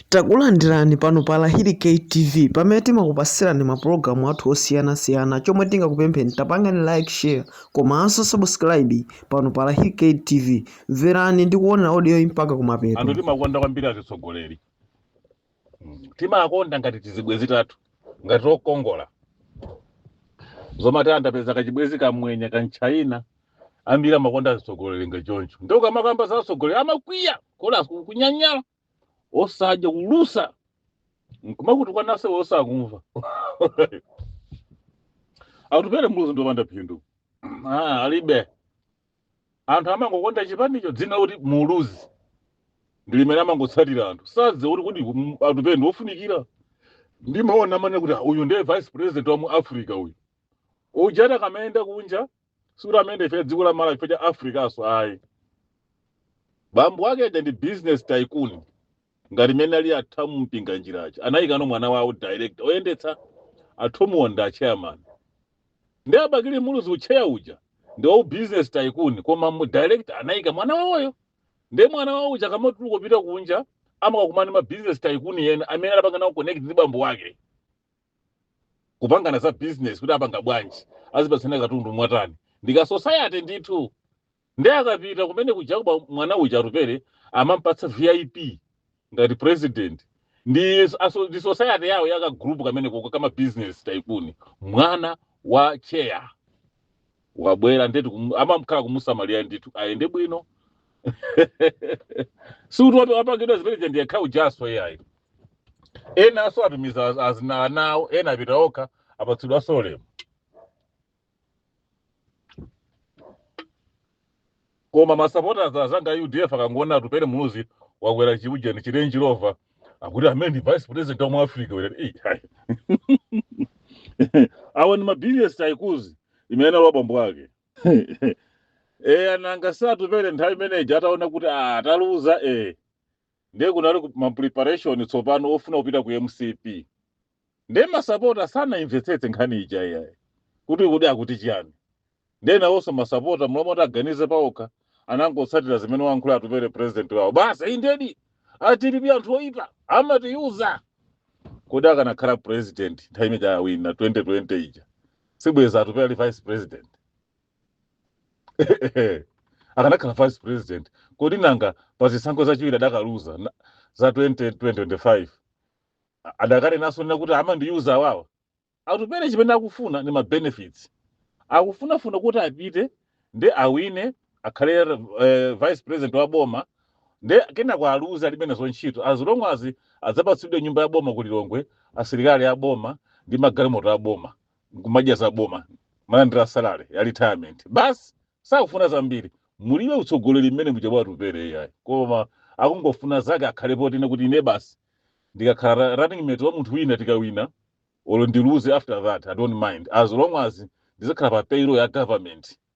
Takulandirani pano pa Lahiri K TV pamene timakupasirani mapulogalamu athu osiyanasiyana chomwe tingakupempheni tapangani like share komanso subscribe pano pa Lahiri K TV mverani ndi kuonera audio iyi mpaka kumapeto anthu timakonda kwambiri azitsogoleri Mm. timakonda ngati tizibwezi tathu ngati tokongola zomati andapeza kachibwezi kamwenye kamtchaina ambiri amakonda azitsogoleri ngachoncho ndi ukamakamba za atsogoleri amakwiya kulusa kunyanyala osadya kulusa nkumakutukwanaso osakumva atupere muluzi ndiwopanda phindu Ah, alibe anthu amangokonda chipanicho dzina kuti muluzi ndi limene amangotsatira anthu sadziwa kuti kodi mm, atupere ndi ofunikira ndimaona amanena kuti ah, uyu ndiye vice president wa mu africa uyu ujata kamayenda kunja sikuti amene ife dziko la malawi ife cha africaso ayi bambo wake aja ndi business tycoon ngati mmene ali a thomu mpinganjira anayikano mwana wawo direct oyendetsa athomuwo ndi achairman ndi abakili muluzi utcheya uja ndi wawu business tycoon koma u direct anayika mwana wawoyu ndi mwana wawo uja kamatuluka kupita kunja amakakumana ndi ma business tycoon ena amene anapanga nawo connect ndi bambo wake kupangana za business kuti apanga bwanji azipatsane katundu mwa ntanji ndika society ndithu ndiye akapita kumene kuja kuba mwana uja atupere amampatsa vip ngati president ndi aso- ndi society yawo yaka group ka kumeneko ko kama business tycoon mwana wa chair wabwera ndetu kum- amakhala kumusamalira ndithu ayende bwino sikuti watu wapangidwa zimene zija ndi yekha ujaso iyayi enaso atumiza az- azina ana awo ena apita okha apatsidwaso ulemu koma masapota azanga a udf akangoona atupele muluzi wakwera chiujeni chi range rover akuti ameneyu ndi vice president wa mu africa wera Eh, hai. awa ni ma business tycoon zimene analowa bambo ake e anangati atupele nthawi imeneji ataona kuti ah, ataluza e ndiye kunali ku- ma preparation tsopano ofuna kupita ku mcp ndiye masapota sanaimvetsetse nkhani ija iyayi kuti kodi akuti chiyani ndiye nawonso masapota m'malo moti aganize paokha anangotsatira zimene wayankhula atupere president wawo basi indedi a dpp anthu oyipa amatiuza kodi akanakhala president nthawi imene awina 2020 ija sibweza atupere ali vice president akanakhala vice president kodi nanga pa zisankho zachiwiri adakaluza na- za 20 2025 a- adakali naso nena kuti amandiuza awawa atupere chimene akufuna ni ma benefits akufunafuna kuti apite ndi awine akhale eh, vice president wa boma nde kenako aluze alibe nazo ntchito as long as adzapatsidwe nyumba ya boma ku lilongwe asilikali a boma ndi magalimoto a boma nkumadya za boma kumalandira salary ya retirement basi sakufuna zambiri mulibe utsogoleri mmene muja mwa atupere iyayi koma akungofuna zake akhale potene kuti ine basi ndikakhala ra- running mate wa munthu wina tikawina olo ndiluze after that i don't mind as long as ndizikhala pa payroll ya government